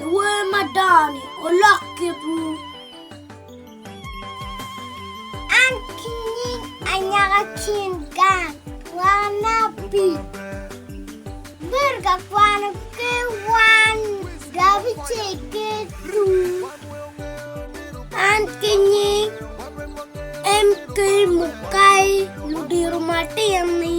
Iwer madongo-ni olok kitwu. An ki nying anyaka cin gang wana pi bir ka kwano ke wan gabi ce ke tu. An ki nying MK Mukai ludiro matin-ni.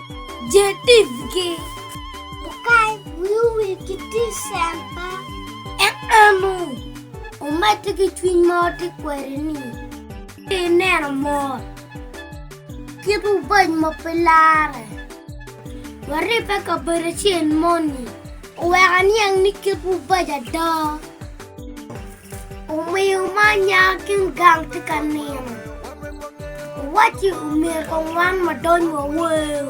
Jetivgi okany wiwu wi gidecemba. Enanu omedde ki cwiny ma watye kwede ni pe ineno mot kit ubac ma pe larre. Waribbe kabedo acel moni oweko aniang ni kit ubac ada. Omiyo ma nya kin gang tye ka nino, owacci omyero ka wan wadony wawer.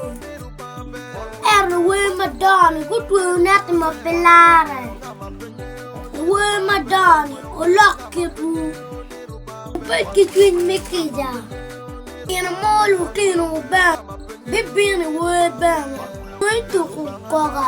Ento wer madongo-ni gutweyo neti ma pe larre, wer madongo-ni olok kitwu, wubed ki cwiny me kica. Nino mo lutino bene bibino i wer bene, weng tuku koka.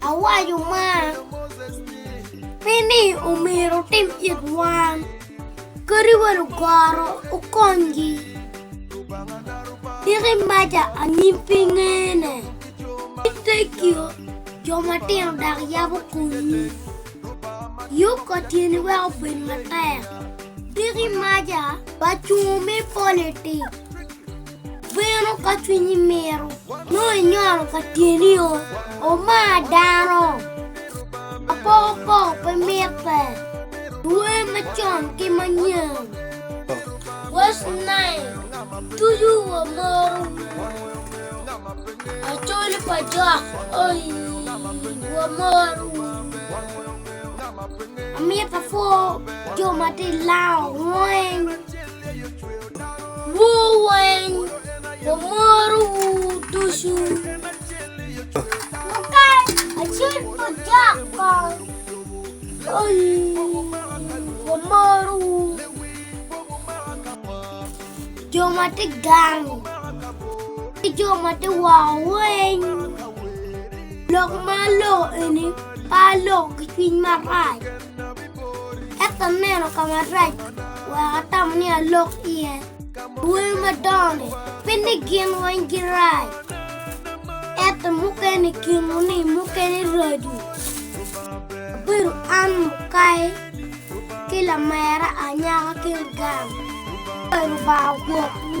Awaco mar pi ni omyero wutim it wan, kadi bed ogoro wukonygi. Tika imaca anyim pi ngene? Ni tekio jo matino dok yabo komgi. Yub ka tyeni wek obed matek. Tika imaca pa cungo me politik? Bino ka cwinyi mito, nongo inyolo ka tyenio, omar dano. Apokopoko pe mitte, luwe macon ki manyen. Wes nai, tuju wa moro Acoli pa jok, oi, wa moro Amito apwo jo ma ti lango weng. Wuu weng wumorowu ducu. Mukai acel pa jok kong. Oyi wumorowu. Jo ma ti gang ki jo ma ti woko weng. Lok ma loko eni pa loko ki cwiny marac. Ento aneno ka marac, wek atam ni alok iye. Dwoyo madongo-ni pe ni gin weng girac, ento mukene i kinwu-ni mukene raco. Abedo an mukai ki lamera anyaka ki lugam. Lubanga ogwokwu.